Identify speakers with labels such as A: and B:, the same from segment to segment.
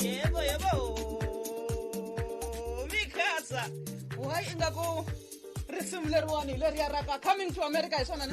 A: yebo yebo mikasa why ingaku risimu leriwani leriya ra ka coming to america hi swona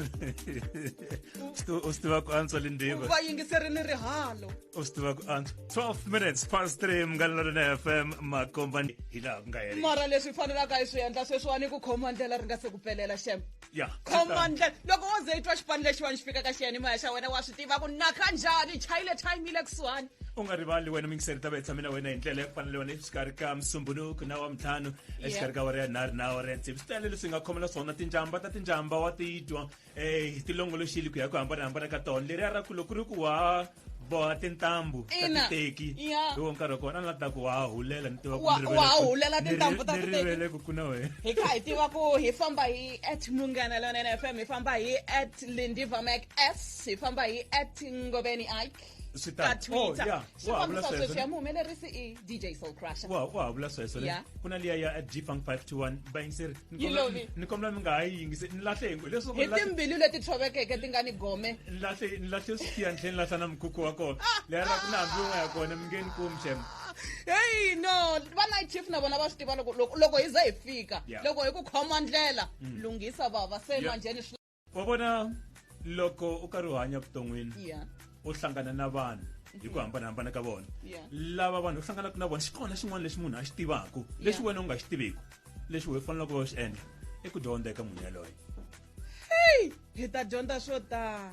A: u swi tiva
B: ku antswa lindiva va yingiseri ni
A: rihalo u swi tiva ku
B: antswa 12 minutes past 3 mungalelo lena fm makombani hi laha ku nga heri mara leswi fanelaka
A: hi swi endla sweswiwani ku khoma ndlela ri nga se ku pelela xem ya khoma
B: ndlela loko
A: wo ze i twa xipano lexiwani xi fika ka xiyanimoya xa wena wa swi tiva ku naka njhani chayile time yile kusuhani u nga rivali wena mingiseri
B: ta va hi tshame na wena hi ndlela ya ku fanele wena exikarhi ka musumbunuku na wa mintlhanu exikarhi ka wara ya nharhu na wara ya ntsevu swi tele leswi hi nga khomela swona tinjamba ta tinjamba wa titwa um hi tilongoloxile ku ya ku hambanahambana ka tona leriya ra ku loko ri ku wa boha tintambu ta Ina. titeki Ya. hi wo nkarhi wa kona a ni la ta ku wa ha hulela ni tiva ku Wa- ni rivele wa ha ku- hulela ni
A: ri- tintambu ta ni titeki. rivele ku ku na wena hi
B: kha hi tiva ku
A: hi famba hi at munghana lonene fm hi famba hi at lindiva mac s hi famba hi at ngobeni ike Swi ka tano. Oh, twitter yeah.
B: Wa ha vula xifambisa
A: sweswo. sweswi ya muhumelerisi i DJ Soul Crusher. Wow, wow, bless her. So
B: yeah. kuna liya ya at G-Funk 521 buying sir. You love it. Ni komla mi nga ha yingise ni lahle ngwe leswo ko lahle. Timbilu leti
A: thovekeke ti nga ni gome. Ni lahle ni lahle
B: siya ndleni lahla na mkhukhu wa kona. Leya ra kuna hambi un'we ya kona mi nge ni kumi shem. Hey
A: no, va night chief na vona va swi tiva loko loko hi za hi fika. Loko hi ku khoma ndlela mm. lunghisa baba se manjheni wa vona
B: loko u karhi u hanya vuton'wini yeah u hlangana na vanhu hi ku hambanahambana ka vona Yeah. lava vanhu u hlanganaka na vona xi kona xin'wana lexi munhu a xi tivaku lexi Yeah. wena u nga xi tiviku lexi we fanelaka va xi endla i ku dyondza eka munhu yaloye
A: hi ta dyondza swo tala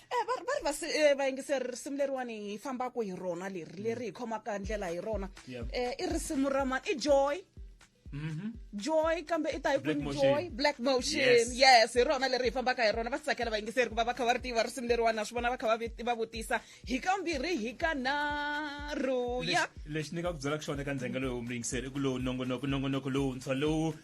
A: Eh, va va ri vasi- eh, vayingiseri risimu leriwani hi fambaka hi rona leri leri hi khomaka ndlela hi rona Yep. Eh, i risimu ra mani i joy joy kambe i ta hi Black kwini Motion. joy black motion Yes. yes hi rona leri hi fambaka hi rona va swi tsakela vayingiseri ku va va kha va ri tiva risimu leriwani na swi vona va kha va vi- va vutisa hi kambirhi hi ka nharhu ya Lexi- lexi ni nga
B: ku byelaka xona eka ndzengelo lowu muyingiseri i ku lowu nongonoko nongonoko lowuntshwa lowu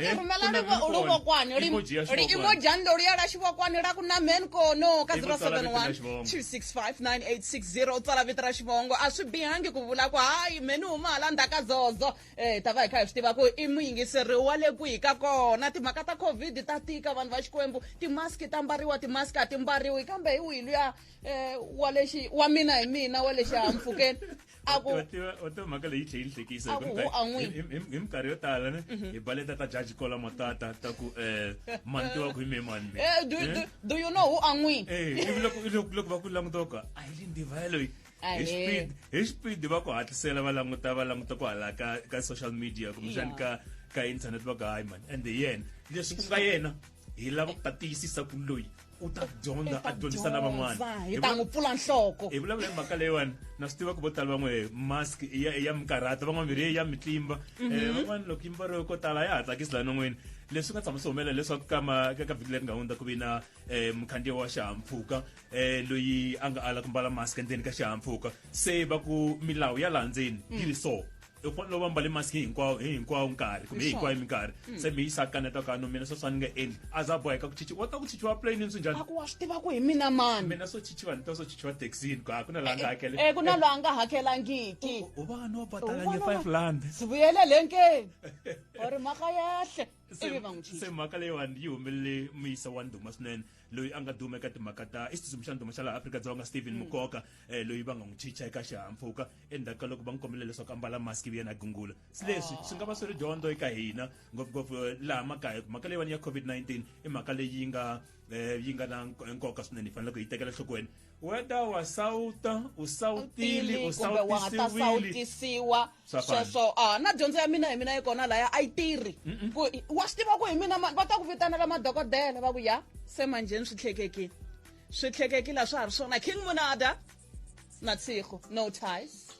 B: Eh, rumelani
A: luvo kwani ri imo jando ri yala xivo kwani ra ku na men kono ka 0712659860 u tsala vito ra xivongo a swi bihangi ku vula ku hayi meni huma hala ndzhaka zozo um ta va hi kha hi swi tiva ku i muyingiseri wa le kwihi ka kona timhaka ta covid ta tika vanhu va xikwembu timaski ta mbariwa timaski a ti mbariwi kambe hi wihi luya um wa lexi wa mina hi mina wa le xihahampfukeni a ku wa tiva
B: wa tiva mhaka leyi tlhe yi hlekisa A ku- a n'wi- hi hi- hi minkarhi yo tala ne hi baleta ta jaji kola matata ta ku um mani tiva ku hi me mani me Eh, do, do, do you
A: know who a n'wi Eh, ivi loko ivi loko loko
B: va ku langutoka a hi le ndivaye loyi Ah, hi eh. speed hi speed va ku hatlisela va languta va languta ku hala ka ka social media kumbexani ka ka internet va ku hayi mani and yena leswi ku nga yena hi lava ku ta tiyisisa ku loyi u ta dyondza a dyondzisa na van'wana hi ta n'wi pfula
A: nhloko hi vulavula hi mhaka leyiwani
B: na swi tiva ku vo tala van'we mask ya ya mikarhata van'wana mirhi ya mitlimba um van'wana loko yimba ro ko tala ya ha tsakisi laha non'wini leswi nga tshama swi humelela leswaku kama ka ka vhiki leri nga hundza ku vi na um mukhandziyi wa xihahampfhuka um loyi a nga ala ku mbala mask endzeni ka xihahampfhuka se va ku milawu ya laha ndzeni yi ri so i ku lova mbale maski hinkwawo hi hinkwawo nkarhi kumbe hi hinkwayo minkarhi mm. se mi yi sakaneta ka no mina sweswa ni nga endli a za boheka ku chichiwa wa ta ku chichiwa plane ni swi njhani aku wa swi tiva ku hi
A: mina mani mina swo chichiwa ni ta swo
B: chichiwa taxini ku ku na laha nga eh, hakele eh, ku na laha nga
A: hakelangiki u va no
B: batalanye five land sivuyele lenkeni
A: or mhaka yahle se ivi va n'wi se chicha mhaka
B: leyiwani yi humelele muyisa wa ndhuma swinene loyi a nga duma eka timhaka ta i xitsutsumi xa ndhuma xa laha afrika-dzonga stephen mukoka eh, loyi va nga n'wi chicha eka xihahampfhuka endzhaku ka loko va n'wi kombele leswaku a mbala mask ivi yena a gungula se leswi swi nga va swi ri dyondzo eka hina ngopfungopfu eh, laha makaya mhaka leyiwani ya covid-19 i mhaka leyi nga eh yi nga na nko- nkoka swinene hi fanele ku yi tekela nhlokweni whether wa sawuta u sawutile u kumbe wa nga ta sawutisiwile sawutisiwa
A: Swa fana. sweswo a na dyondzo ya mina hi mina yi kona laya a yi tirhi ku wa swi tiva ku hi mina ma- va ta ku vitanela madokodela va ku ya se manjheni swi tlhekekile swi tlhekekile a swa ha ri swona king munada na tsiko no ties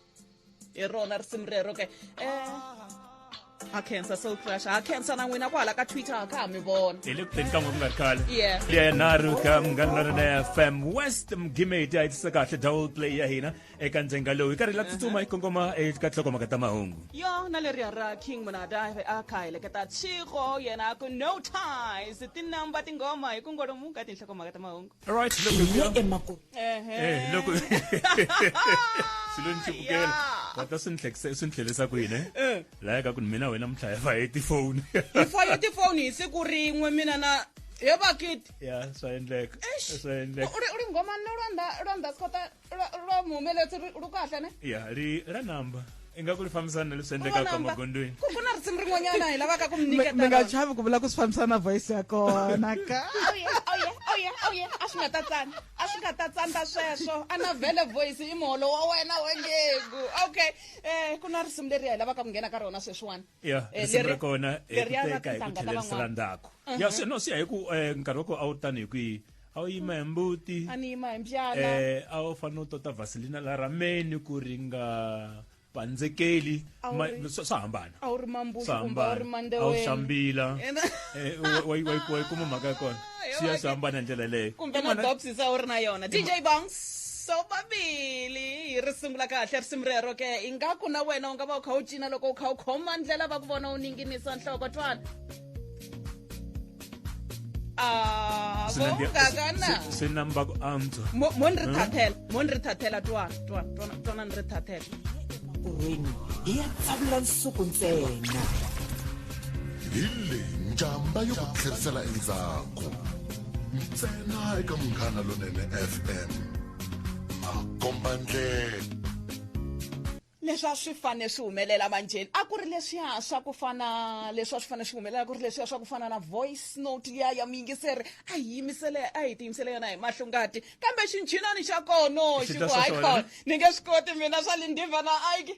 A: hi rona risimu rero ke eh ha khensa soul crush ha khensa na n'wina kwala ka twitter ha kha ha mi vona hi le ku teni ka n'we ku nga ri
B: khale Yeah. yenharhu
A: ka
B: munghana lorena fm west mgimeti a yi tisa kahle double play ya hina eka ndzenga lowu hi karhi hi la tsutsuma hi kongoma eka tlhokomaka ta mahungu yo na leriya ra
A: king munada a kha heleketa tshiko yena a ku no ties tinumber tinghoma hi ku ngolomuka tinhlokomhaka ta mahungu right loko
B: emakumu eh loko silweni chibukela kata swi ni hlekisa swi ni tlhelisa kwini eh? eh. laya ka ku ni mina wena muthlaya fa hi tifoni hi fa hi tifoni
A: hi siku rin'we mina na he bakiti ya swa endleka
B: swa endleka u
A: ri nghoma no lwanda lwanda sikota ro mi humeletsi ri kahle ne ya ri ra number
B: ingaku ri fambisana na leswi endlekaka magondweni ku na risimu rin'wanyana
A: hi lavaka ku mi nyiketa mi nga chavi ku vula ku swi
C: fambisana na voice ya kona ka
A: oye a swi nga ta tsana a swi nga ta tsandza sweswo a na vele voice i muholo wa wena wengegu okay um ku na risimu leri hi lavaka ku nghena ka rona sweswiwani ya Eh, risimu ra leri-
B: kona hi leri ya ku na teka hi ku tinhlanga ta tlhelerisa la van'wana. ndzhaku ya swi no siya hi ku eh, nkarhi wa kona a wu tani hi kwihi a wu yima hi mbuti a ni yima hi mbyana
A: eh a wu fanele u tota
B: vaselina la rameni ku ri nga pandzekeli A wu Ma- ri- swa swa hambana a wu ri mambuxi swa kumbe
A: a wu ri hambana a wu mandewela xambila Ena-
B: Eh, wa- wa- wa- wa yi kuma mhaka ya kona xiya swi hambana hi ndlela leyo kumbe na bobsisa u
A: ri na yona dj bongs so babili hi ri sungula kahle risimu rero ke ingaku na wena u nga va u kha u cina loko u kha u khoma ndlela va ku vona u ninginisa nhloko twana ah, swi na mbako
B: antswa mo ni ri thathela
A: mo ni ri thathela twana twana twana ni ri thathela makorweni
C: hi ya tsavula nsuku ntsena
D: hi le njhamba yo ku tlherisela endzhaku ntsena eka munghana lonene fm makomba ndlela
A: leswi a swi fanele swi humelela manjheni a ku ri leswiya swa ku fana leswi a swi fanele swi humelela ku ri leswiya swa ku fana na voice note liya ya muyingiseri a hi yimisele a hi tiyimisele yona hi mahlongati kambe xinchinani xa kono xi ku hayi khona ni nge swi koti mina swa lindhiva na aiki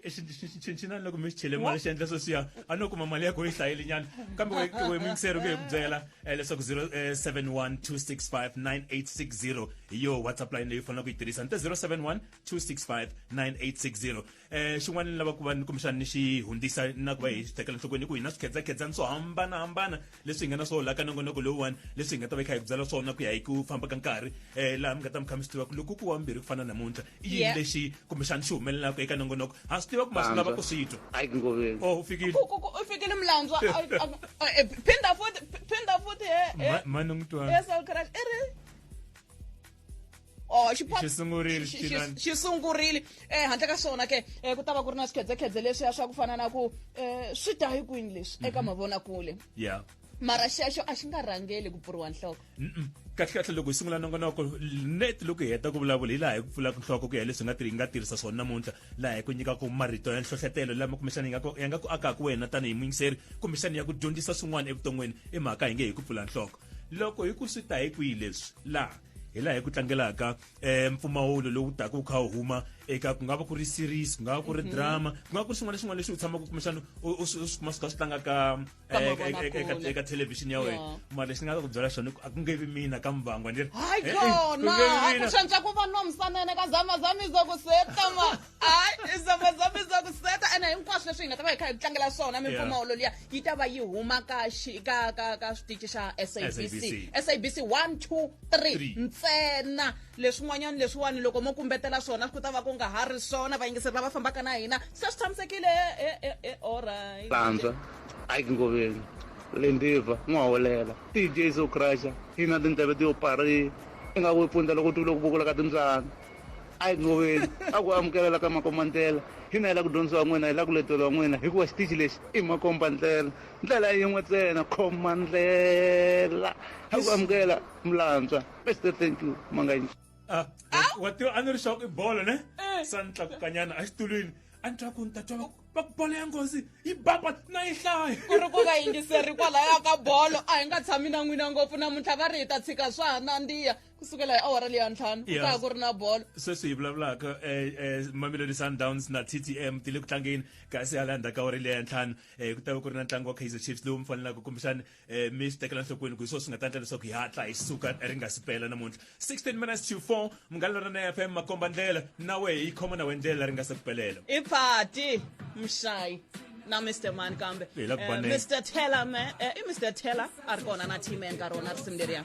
A: xinchinani loko
B: mi xi chele mali xi endla sweswiya a no kuma mali ya ko yi hlayeli nyana kambe we mingiseri ku hi ku byela eh, leswaku 0712659860 hi yo whatsapp line leyi u faneleke ku yi tirhisa ni te 0712659860 eh xin'wana ni lava ku va ni kumbexana ni xi hundzisa na ku va hi xi tekela nhlokweni ku hi na swikhedzakhedzana swo hambanahambana leswi hi nga na swo laha ka nongonoko lowuwani leswi hi nga ta va hi kha hi ku byela swona ku ya hi ku famba ka nkarhi um laha mi nga ta mi kha mi swi tiva ku loko ku wa mbirhi ku fana namuntlha i yini Yeah. lexi kumbexana xi humelelaka eka nongonoko ha swi tiva ku ma swi lava ku swi twa hayi ku ngoveni oh u
E: fikile Ku- ku- ku-
B: u fikile mulantswa
A: a- a- a- eh, phinda futhi phinda futhi he- he- Ma- mani n'wi
B: twana he Saul Crush, i ri
A: Oh, xi sungurile xi sungurile eh handle ka swona ke eh ku ta va ku ri na swikhedzekhedze leswiya swa ku fana na ku eh swi ta hi kwini leswi eka mhm. mavonakule yeah
B: mara xexo a
A: xi nga rhangeli ku pfuriwa nhloko kahlekahle loko
B: hi sungula nongonoko net loko hi heta ku vulavula hi laha hi ku pfulaka nhloko ku ya leswi nga hi nga tirhisa swona namuntlha laha hi ku nyikaka marito ya nhlohletelo lama kumbexana ya nga ku akaka wena tanihi muyingiseri kumbexana ya ku dyondzisa swin'wana evuton'wini i mhaka hi nge hi ku pfula nhloko loko hi ku swi ta hi kwihi leswi laha hi laha hi ku tlangelaka um mpfumawulo lowu taka wu kha wu huma eka ku nga va ku ri series ku nga va ku ri mhm. drama ku nga va ku ri swin'wana swin'wana leswi u tshamaka kumbexana u swi kuma swi kha swi tlanga ka eh, eka thelevhixini ya wena mara lexi ni nga ta ku byela xona a ku nge vi mina ka muvangwa ni ri hayi kona
A: a ku shantsha ku va nomsanene ka zamazamizo ku setama hayi zamazama za ku seta ene hinkwaswo leswi hi nga ta va hi kha hi tlangela swona mimpfumawulo liya yi ta va yi huma ka ka ka ka switichi xa sabc sabc one two three ntsena leswin'wanyana leswiwani loko mo kumbetela swona ku ta va ku nga ha ri swona vayingiseri lava fambaka na hina se swi tshamisekile e, e, e, olright lantswa
E: hayi kingoveni lendiva n'waholela tj so crusha hina tindleve ti yo pari i nga ku pfundza loko ti vule ku vukula ka timbyana a hi goveli a ku amukelala ka makombandlela hina hi la ku dyondzisa wa n'wina hi la ku letelo wa n'wina hikuva xitichi lexi i makombandlela ndlela yin'we tsena khomandlela a ku amukela mulantswa pastor thank you manganyi Ah, wa
B: tiva a ni ri xaku i bolo ne sa ni tlakukanyana exitulwini a ni twa ku ni ta twa va ku bolo ya nghozi yi baba na yi hlaya ku ri ku nga yingiseri
A: kwalaya ka bolo a hi nga tshami na n'wina ngopfu namuntlha va ri hi ta tshika swa ha nandziya ku sukela hi awara leya ntlhanu ku ta ku ri na bolo sweswi hi vulavulaka um
B: eh, eh, mamelodi sundowns na ttm ti le ku tlangeni kasi hala ndzhaku ka awara leya ntlhanu um ku ta va ku ri na ntlangu wa kaizer chiefs lowu mi fanelaka kumbexani um mi swi tekela nhlokweni ku hi swona swi nga ta endla leswaku hi hatla hi suka ri nga si pela namuntlha 16 minutes to 4 munghana lorana f m makomba ndlela na wehe yi khoma na
A: we
B: ndlela ri nga se ku pelela i phati mshayi na
A: mr man kambe eh, mr
B: teller me
A: eh, i mr teller a ri kona na team enkarhi wona risimu leriya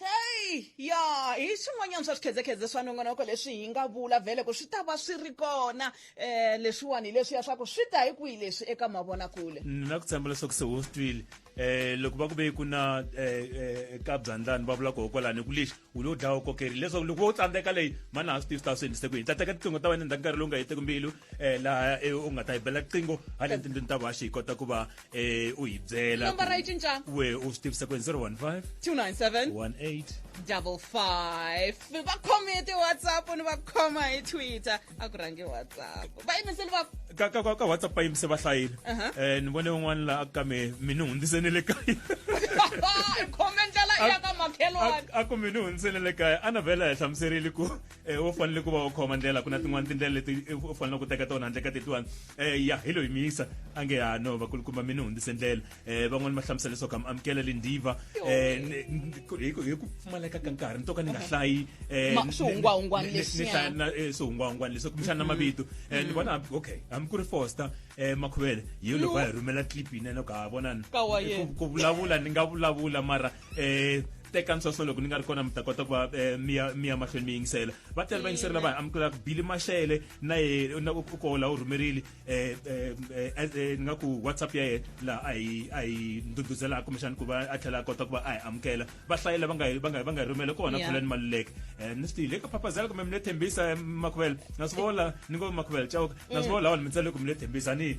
F: heyi
A: ya hi swin'wanyana swa swikhedzekhedze swa nongonoko leswi hi nga vula vhele ku swi ta va swi ri kona um leswiwani hi leswiya swa ku swi ta hi kwihi leswi eka mavonakule ni na ku tshemba leswaku
B: se wo swi twile um loko va ku ve ku na um ka byandlani va vula koho kwalani ku lexi u lo dlawa kokerile leswaku loko wo tsandzeka leyi mani ha swi tivi swi ta swi endlise ku hi ta teka tiqingho ta wena endzhaku nkarhi lowu nga heteki mbilu um laha u nga ta hi bela riqingho haleni tindlwini ta vaxi hi kota ku va eh u hi byela Number ra yi cinca. ku we
A: u swi tivisa ku hi 015 297
B: 18 double
A: five va khome hi ti-whatsapp ni va khoma hi twitter a ku rhangi whatsapp va yimiseli va ka ka ka- ka whatsapp yi
B: mise vahlayini Aha. eh ni vone un'wana la a ka me mi ni hundzise ni le kaya
A: khome ndlela ya ka makhelwani a ku mi ni hundzise ni
B: le kaya a na vhela hi hlamuserile ku e u fanele ku va u khoma ndlela ku na tin'wana tindlela leti u fanele ku teka tona handle ka tetiwani um ya hi lo hi miyisa a nge ha no vakulukumba mi ni hundzise ndlela um van'wani va hlamusela leswaku am amukela le ndiva um hi ku pfumaleka ka nkarhi ni to ka ni nga hlayi
A: swihungwahungwani leswi
B: kumbexana na mavito um ni vona okay hambi ku ri foster um makhuvele hi loko va hi rhumela clip yinene ku ha vonani ku vulavula ni nga vulavula mara eh teka ntsonso loko ni nga ri kona mi ta kota ku va eh, miya miya mahlweni mi yingisela va tele va yingiseri lava amukela bili maxele na ye na ku ko la u rhumerile eh, eh, eh, eh, ni nga ku whatsapp ya yena laha a hi a hi nduduzela kumbexani ku va a tlhela a kota ku va a hi amukela va hlayela va nga hi- va nga hi- va nga hi rhumele kona Yeah. khulani maluleke um ni swi tivile ka phapazela kumbe mi le thembisa eh, makhuvela na swi vola ni ngo makhuvela cawuka na swi vola wona mi tsale ku mi le thembisa ni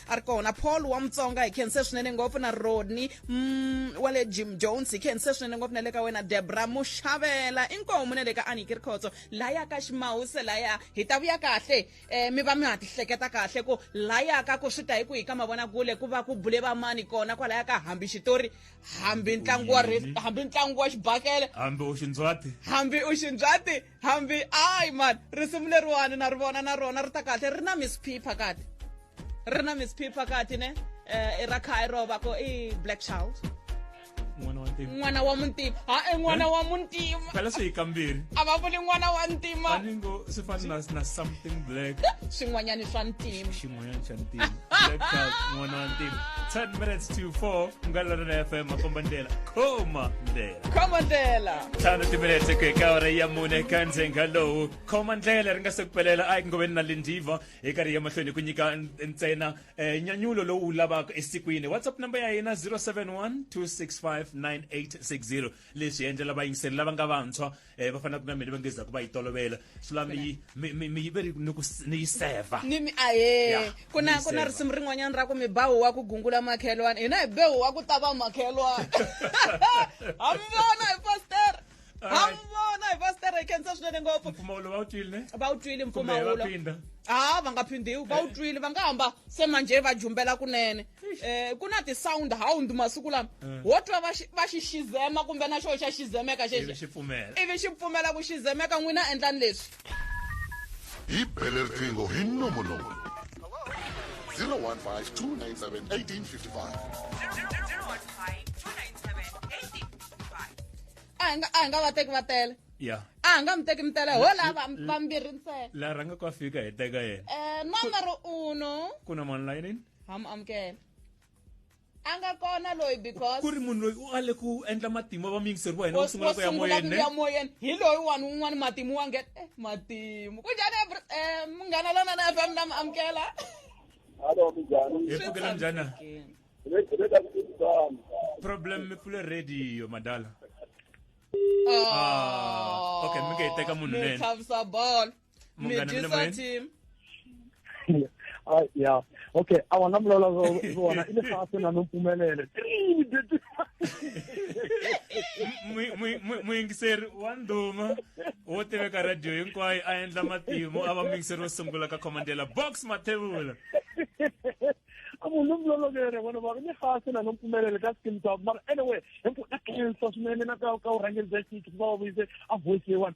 A: a ri kona paul wa mutsonga hi khense swinene ngopfu na rodney mm, wa le jim jones hi khense swinene ngopfu na le ka wena debra muxavela inkomu na le ka aniki ri khotso laya ka ximawuse laya hi ta vuya kahle um mi va mi ha tihleketa kahle ku laya ka ku swi ta hi ku hi ka mavonakule ku va ku bule vamani kona kwalaya ka hambi xitori hambi ntlangu wa hambi ntlangu wa xibakele hambi u xindzwati
B: hambi u xindzwati
A: hambi ayi mani risimu leriwani na ri vona na rona ri ta kahle ri na miss p phakati ri na miss p phakati ne um i ra khaya ro va ko i black child n'wana wa muntima ha e n'wana wa muntima phela swi hi kambirhi
B: a va vuli n'wana wa
A: ntima aningo swi fana
B: na something black swin'wanyani swa
A: ntima 10
B: minutes to 4 mgalalo na fm makombandela komandela komandela tano timinete ku eka ora ya mune ka ndzhenga lowu komandlela ri nga se ku pelela a yi ku na lindiva hi karhi ya mahlweni ku nyika ntsena eh, nyanyulo lowu lavaka esikwini whatsapp number ya hina 071 265 9860 leswi endlela vayingiseri lava nga vantshwa um va fanelaka na mina va nge zaku va yi tolovela swi lava mi yi ve ri ni ku ni yi seva ni mi ahe
A: ku na ku na risimu rin'wanyana ra ku mi bawu wa ku gungula makhelwana hina hi bewu wa ku tava makhelwana ha mi vona hi pastere ha mi vona hi pastere hi khensa swinene ngopfu mpfumawulo va wu twile ne
B: va wu twile
A: mpfumawulo ha va nga phindiwi va wu twile va nga hamba se manje va jumbela kunene eh ku na ti-sound hound masiku lama eh. wo twa va xi va xi xizema kumbe na xoho xa xizemeka xexi ivi xi pfumela ivi
B: xi pfumela ku
A: xizemeka n'wina endlani leswi
D: hi bele riqingho hi nomonoko 015 297
A: a hi nga a hi nga va teki va tele ya a hi nga mi
B: teki mi tele
A: ho la vambirhi ntsena la rhanga ku a fika hi
B: teka yena um eh, nomero uno
A: ku na mani layinini
B: ham amukela
A: a nga kona loyi because ku ri munhu loyi u ale
B: ku endla matimba va miyingiseri va hina wo sungula ku ya moyeni ya moyeni hi
A: loyi wani un'wana matimu wa nge eh, matimu ku njhani eh, munghana lona na fm na mi amukela hallo
B: minjhani hi pfukela njhani problem mi pfule radio madala ah, ah okay mi nge hi teka munhu nene chavisa bolo Mungana mi le moyeng? team Ah,
G: ya okay a wona mulola wona ile fa se na nompumelele Mui- mui- mui-
B: muyingiseri wa ndhuma wo tiveka radiyo hinkwayo a endla matimu a va muyingiseri wo sungula ka khomandela box mathevula a munhu
G: mulola vere vona va ile fa se na nompumelele ka skin top mara anyway hinku na khensa swinene na ka ka urhangeri bya xiki va va vuyise a voice leyiwani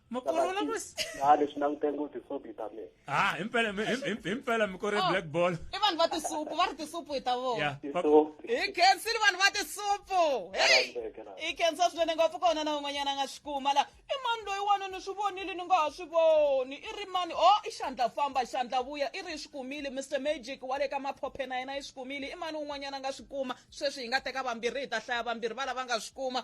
A: makorela ku
B: ha leswi languteni
H: ku tisobita me ha himpela
B: himpela mikore oh, black ball i vanhu va tisupu va
A: ri tisupu hi ta vona hi
B: khensile vanhu
A: va tisupu heyi hi khensa swinene ngopfu kona na un'wanyana a nga swi kuma la i mani loyi wani ni swi vonile ni nga ha swi voni i ri mani o oh, i xandla famba xandla vuya i ri i swi kumile mr magic wa le ka maphophe na yena i swi kumile i mani un'wanyana a nga swi kuma sweswi hi nga teka vambirhi hi ta hlaya vambirhi va lava nga swi kuma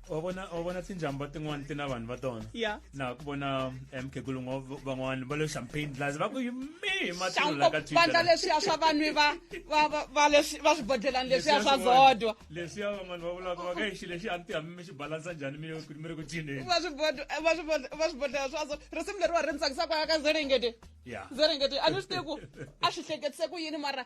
A: wa vona wa vona tinjhamba
B: tin'wana ti na vanhu va tona ya na ku vona eh, mkhegulu van'wana va le champagne glass va ku yimi matululakavandla leswiya swa vanwi
A: va swibodlelani leswiya swa zodwa leswiya van'wana va
B: vulaka va ka exi lexi a ni ti hambi mi xi balansa njhani mi mi ri ku cineni
A: va swibodlela swazo risimu leriwa ri ni tsakisaka ya ka zerengete zerengete a ni swi tivi ku a swi hleketise ku yini mara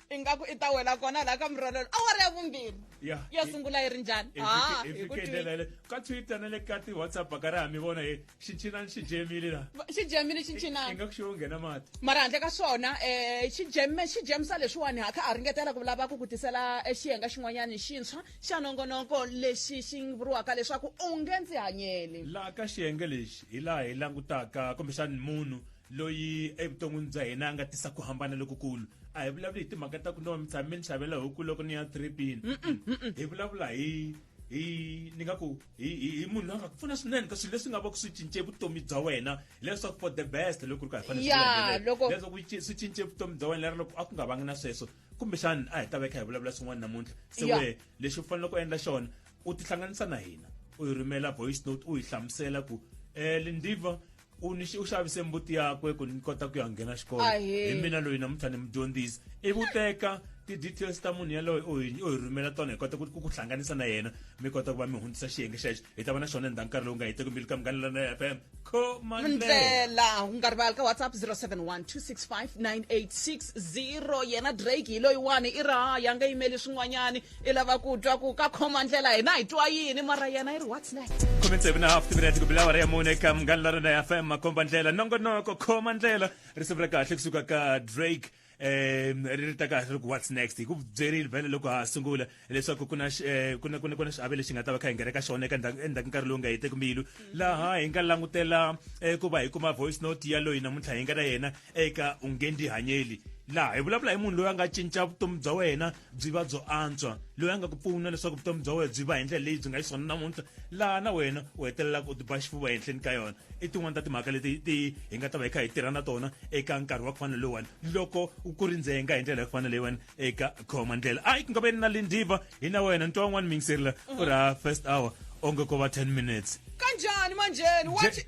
A: ingaku i ta wela kona laha ka murolelo awara ya vumbirhi yo sungula yi ri njhani ah,
B: ka twitter na le ka ti-whatsapp ka ri hami vona hi xinchinani xi jemile la xi jemile xinchinani
A: ingaku xi wo nghena mati
B: mara handle ka swona
A: um eh, xi jeme xi jemisa leswiwani ha kha a ringetela ku lava ku ku tisela eh, xiyenga xin'wanyani xintshwa xa nongonoko lexi xi vuriwaka leswaku u nge ndzi hanyeli laha ka xiyenge
B: lexi hi laha hi langutaka kumbexani munhu loyi evuton'wini bya hina a nga tisa ku hambana lokukulu a hi vulavuli hi timhaka ta ku no mi tshame ni xavela huku loko ni ya tripini hi vulavula hi hi ni nga ku hi hi- hi munhu loyi a nga ku pfuna swinene ka swilo leswi nga va ku swi cince vutomi bya wena leswaku for the best loko ri ka hi fanele swi Ya, landzelela. loko- leswaku yi ci- swi cince vutomi bya wena lero loko a ku nga vangi na sweswo kumbexani a hi ta veka hi vulavula swin'wana namuntlha se Ya. wehe lexi u faneleke u endla xona u tihlanganisa na hina u hi rhumela voice note u hi hlamusela ku um lindiva u ni u xavise mbuti yakwe ku ni kota ku ya nghena xikolo Ahee. hi mina loyi namuntlha ni mudyondzisi ivi u teka ti-details ta munhu yaloye u hi u hi rhumela tona hi kota ku ku ku hlanganisa na yena mi kota ku va mi hundzisa xiyenge xexo hi ta va na xona endzhaku nkarhi lowu nga heteki mbili ka mughanelana ya fm khomandlela ndlela
A: u nga rivali ka whatsapp 0712659860 yena drake hi loyiwani i raha ya nga yimeli swin'wanyani i lava ku twa ku ka khoma ndlela hina hi twa yini mara yena yi ri what's next khume tsevu na hafu timinete
B: ku bila awara ya mune eka munghana la rona fm makomba ndlela nongonoko khoma ndlela risimu ra kahle kusuka ka drake um ri ri ta kahle ri ku what's next hi ku byerile vhele loko ha sungula leswaku ku na xi- eh, ku na- ku na- ku na xiave lexi hi nga ta va kha hi nghena ka xona eka ndzhaku- endzhaku nkarhi lowu nga heteki mbilu laha hi nga langutela eh, ku va hi kuma voice note ya loyi namuntlha hi nga na yena eka ungendihanyeli laha hi vulavula hi munhu loyi a nga cinca vutomi bya wena byi va byo antswa loyi a nga ku pfuna leswaku vutomi bya wena byi va hi ndlela leyi byi nga yi swona namuntlha laha na wena u hetelelaka u tiba xifuva ehenhleni ka yona i tin'wana ta timhaka leti ti hi nga ta va hi kha hi tirha na tona eka nkarhi wa ku fana lowani loko ku ri ndzenga hi ndlela ya ku fana leyiwani eka khoma ndlela a ku nga va ni na lindiva hi na wena ntwa wun'wana mingiseri la u ri ha first hour onge ko va 10 minutes kanjani manjheni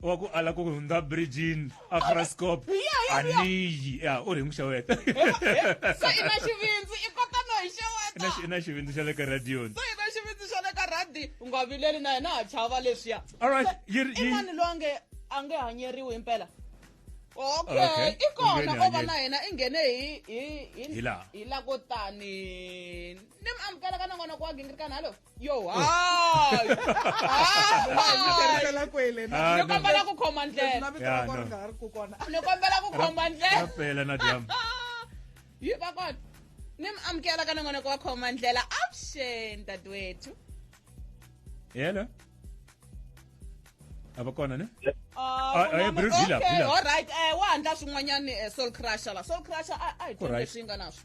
B: wa ku ala ku hundza bridgin afrascop Yeah, yeah, yeah. aniyi ya u ri hi muxeweta so i
A: na xivindzi i kota no hi xeweta i na xivindzi xa le ka
B: radioni so i na xivindzi xa le
A: ka radi u nga vileli na yena ha chava leswiya all right So, yi ri- i yi-
B: mani loyi a
A: nge a nge hanyeriwi himpela Okay, okay i u kona nghene o va hanyeni. na yena i nghene hi hi Hi laha. hi la ko tani ni mi amukela ka nan'wana wa gingirikani halo yo hayi hayi kwele na ni kombela ku khoma ndlela Yeah, no. nga ha ri ku kona ni kombela ku khoma ndlela rapela na dyam
B: yi
A: va kona ni mi amukela ka nongonoko wa khoma ndlela avuxeni dadewethu
B: hello a va kona ne Ah, Ah, eh, un'wana- Bruce,
A: hi laha, hi okay, laha. all right eh wa handla swin'wanyani eh, soul crusher la soul crusher a a hi Ku right. tshembe swi nga na swo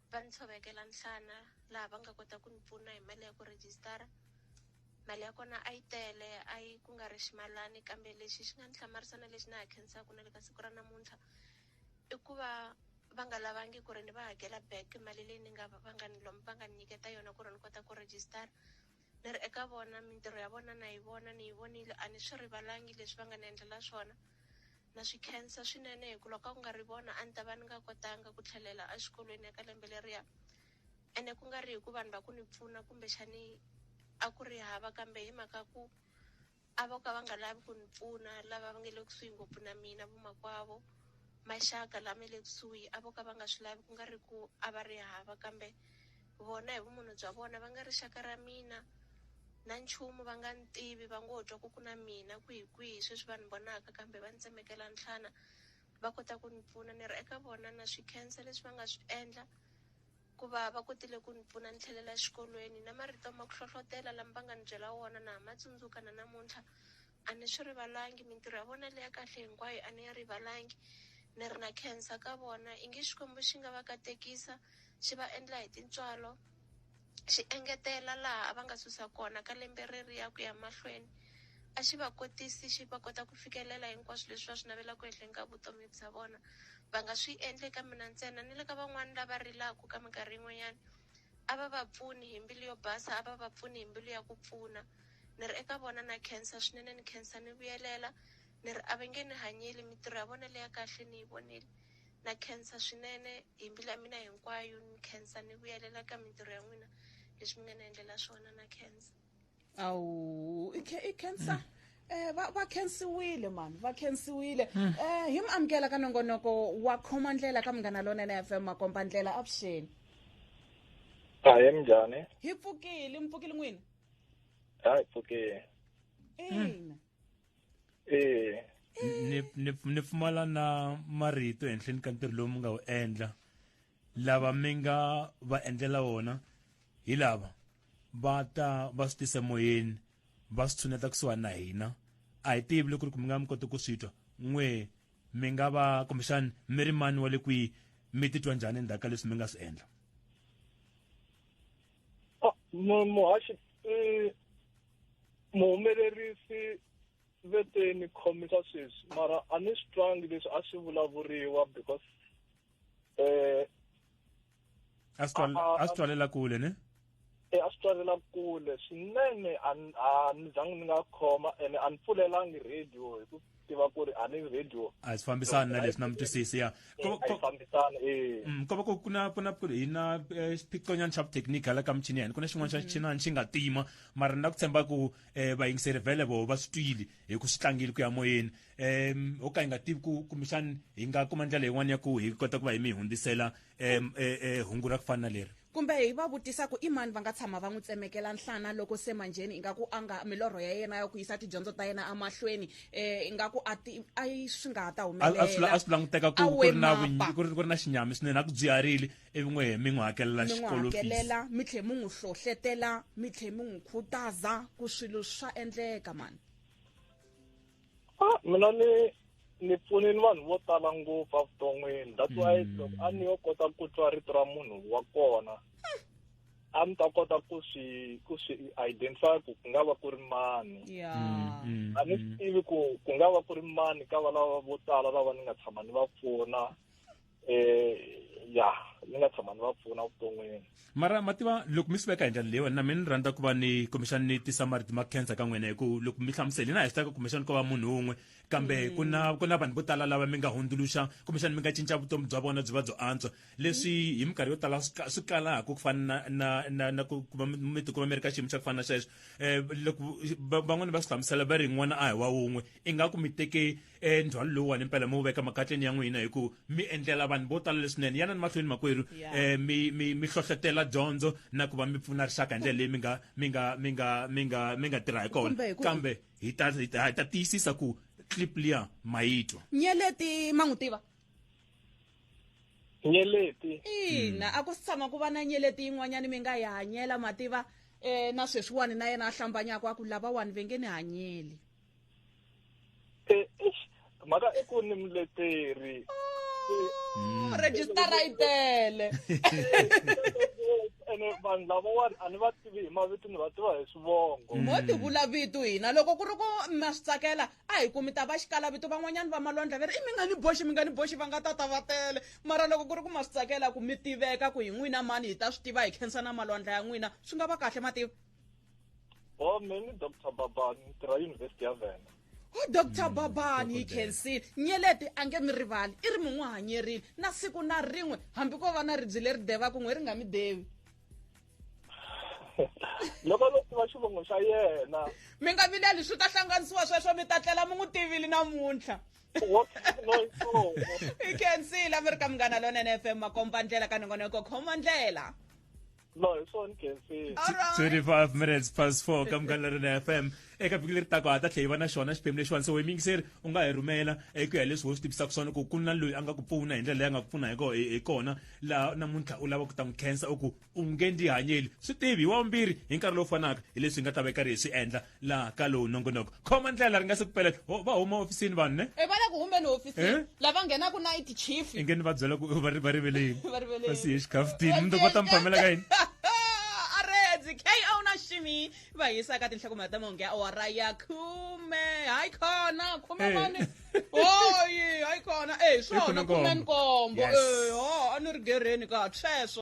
F: va ni tshovekela nhlana laha va nga kota ku ni pfuna hi mali ya ku rejistara mali ya kona a yi tele a yi ku nga ri ximalani kambe lexi xi nga ni hlamarisa na lexi na ha khensaka na le ka siku ra namuntlha i ku va va nga lavangi ku ri ni va hakela back mali leyi ni nga va nga ni va nga ni nyiketa yona ku ri ni kota ku rejistara Ni ri eka vona, mintirho ya vona na yi vona, ni yi vonile, a ni swi rivalangi leswi va nga ni endlela swona. Na swi khensa swinene hi ku loko a ku nga ri vona a ni ta va ni nga kotanga ku tlhelela exikolweni eka lembe leriya. Ene ku nga ri hi ku vanhu va ku ni pfuna kumbexani a ku ri hava kambe hi mhaka ku A vo ka va nga lavi ku ni pfuna, lava va nge le kusuhi ngopfu na mina, vomakwavo, maxaka la me le kusuhi, a vo ka va nga swi lavi, ku nga ri ku a va ri hava, kambe vona hi vumunhu bya vona va nga rixaka ra mina, na nchumu va nga ni tivi, va ngo twa ku ku na mina kwihi-kwihi, sweswi va ni vonaka, kambe va ni tsemekela nhlana, va kota ku ni pfuna. Ni ri eka vona, Na swi khensa leswi va nga swi endla, Hikuva va kotile ku ni pfuna ni tlhelela exikolweni, na marito ma ku hlohlotela lama va nga ni byela wona na ha ma tsundzuka na namuntlha. A ni swi rivalangi, mintirho ya vona leyi ya kahle hinkwayo a ni yi rivalangi. Ni ri na khensa ka vona. Ingi Xikwembu xi nga va katekisa, xi va endla hi tintswalo, xi engetela laha a va nga susa kona ka lembe reriya ku ya mahlweni. A xi va kotisi xi va kota ku fikelela hinkwaswo leswi va swi navelaka ehenhleni ka vutomi bya vona. Va nga swi endli eka mina ntsena, ni le ka van'wana lava rilaka ka minkarhi yin'wanyana. A va va pfuni hi mbilu yo basa, a va va pfuni hi mbilu ya ku pfuna. Ni ri eka vona na khensa swinene, ni khensa ni vuyelela. Ni ri a va nge ni hanyeli, mintirho ya vona leya kahle ni yi vonile. Na khensa swinene hi mbilu ya mina hinkwayo, ni khensa ni vuyelela ka mintirho ya n'wina, leswi mi nga ni endlela swona. Na khensa. awu
A: i ca- i cancer eh va va khensiwile mani va khensiwile eh hi mi amukela ka nongonoko wa khoma ndlela ka munghana lonene fm makomba ndlela avuxeni
G: hayi minjhani hi pfukile
A: mi pfukile n'wina hayi
G: pfukile ina
A: ee
B: ni ni ni pfumala na marito ehenhleni ka ntirho lowu mi nga wu endla lava mi nga va endlela wona hi lava va ta va swi tise moyeni va swi tshuneta kusuhani na hina a hi tivi loko ri ku mi nga mi koti ku swi twa n'we mi nga va kumbexani mi ri mani wa le kwihi mi titwa njhani endzhaku ka leswi mi nga swi endla
G: oh, muhaxi eh, muhumelerisi veteni khomisa sweswi mara a ni swi twangi leswi a swi vulavuriwa because
B: eh asitwalela kule ne e
H: a swi twalela kule swinene a ni zangi ni nga khoma ene a ni pfulelangi radio hi ku tiva ku ri a ni radio a swi fambisani na
B: leswi na mutwisisi ya fambisani e mm, ko va ku na ku na ku ri hi na e, xiphiqonyana xa vuthekiniki hala ka michini ya hina ku na xin'wana xa mm. xichinani xi nga tima mara ni na ku tshemba ku um vayingiseri vele voho va swi twile hi ku swi tlangile ku ya moyeni um ho ka hi nga tivi ku kumbexani hi nga kuma ndlela yin'wana ya ku hi kota ku va hi mi hundzisela um e, e, hungu ra ku fana na leri kumbe hi va vutisa
A: ku i mani va nga tshama va n'wi tsemekela nhlana loko se manjheni ingaku a nga milorho ya yena ya ku yisa tidyondzo ta yena emahlweni um eh, ingaku a ti a yi swi nga ha ta humelela a swi languteka ku
B: ri na ku ri na xinyami swinene a ku byiharile ivi n'we mi n'wi hakelela xikolohakelela mi tlhe mi
A: n'wi hlohletela mi tlhe mi n'wi khutaza ku swilo swa endleka mani ah
H: mina ni ni pfune ni vanhu vo tala ngopfu evuton'wini that's why mm. loko a ni yo kota ku twa rito ra munhu wa kona a ni ta kota ku swi ku swi identify ku ku nga va ku ri mani mm, mm, a ni swi tivi ku ku nga va ku ri mani ka valava vo tala lava ni nga tshama ni va pfuna eh ya ni nga tshama ni va pfuna vuton'wini mara ma tiva
B: loko mi swi veka hi ndlela leyiwani na mi ni rhandza ku va ni kumbexani ni tisa marito ma khensa ka n'wina hi ku loko mi hlamuseli na hi swi taka kumbexani ko va munhu wun'we kambe mm. ku na ku na vanhu vo tala lava mi nga hundzuluxa kumbexani mi nga cinca vutomi bya vona byi va byo antswa leswi mm. hi minkarhi yo tala swi kalaka ku fana na na na ku va mi tikuma mi ri ka xiyimo xa ku fana na xexo um loko van'wana va swi hlamusela va ri n'wana a hi wa wun'we ingaku mi teke e ndzhwalo lowuwani mpela mi wu veka makatleni ya n'wina hi ku mi endlela vanhu vo tala leswinene yanani mahlweni makwerhu um mi mi mi hlohlotela dyondzo na ku va mi pfuna rixaka hi ndlela leyi mi nga mi nga mi nga mi nga mi nga tirha hi kona kambe hi ta hi ta tiyisisa ku clip liya ma yi twa nyeleti ma
A: n'wi tiva
H: nyeleti ina a ku si
A: tshama ku va na nyeleti yin'wanyana mi nga yi hanyela ma tiva um na sweswiwani na yena a hlambanyaka a ku lavawani ve nge ni hanyeli Eh,
H: eish, mhaka i ku ni muleteri Oh, rejistara
A: yi tele
H: ene vanhu lavawani a ni va tivi hi mavito ni va tiva hi swivongo mo ti vula vito
A: hina loko ku ri ku ma swi tsakela a hi kumi ta va xikala vito van'wanyana va malondla va ri i mi nga ni boxi mi nga ni boxi va nga ta ta va tele mara loko ku ri ku ma swi tsakela ku mi tiveka ku hi n'wina mani hi ta swi tiva hi khensa na malondla ya n'wina swi nga va kahle ma tiva
H: Oh, many Dr. Babani, Tra University of Vienna. o dr
A: babani hi khensile nyelete a nge mi rivali i ri mi n'wi hanyerile na siku na rin'we hambi ko va na ribyi leri devaku n'we ri nga mi devi
H: loko lo tiva xivongo xa yena mi nga vileli
A: swi ta hlanganisiwa sweswo mi ta tlela mi n'wi tivile namuntlha i khensile a mi ri ka munghana lonene fm makombandlela ka nongonoko khomandlela
H: no hi swona gensini 25
B: minutes past 4 ka munghana leri na fm eka vhiki leri taka ha ta tlhe hi va na xona xiphemu lexiwani se wemyingiseri u nga hi rhumela eku ya hi leswi ho swi tivisaka swona ku ku na loyi a nga ku pfuna hi ndlela leyi a nga ku pfuna hi kona laha namuntlha u lava ku ta n'wi khensa u ku u nge ndi hanyeli swi tivi hi wa vumbirhi hi nkarhi lowu fanaka hi leswi hi nga ta va hi karhi hi swi endla la ka lowu nongonoko khoma ndlela ri nga se ku pela Ho- va huma ofisini vanhu ne e va le ku humbeni hofisini
A: Eh? lava nghenaka na iti chief inge ni va byela ku va
B: ri- va riveleni Va riveleni. va siye xikhaftini mi va ta mi phamela ka yini arezi
A: ko na shimi va yisa ka tinhlakumela ta mahungu ya awara ya khume hayi khona khume Eh. mani hoyi hayi khona e Hi swona khume khume nkombo. nkombo Yes. e ho a ni ri gereni ka sweswo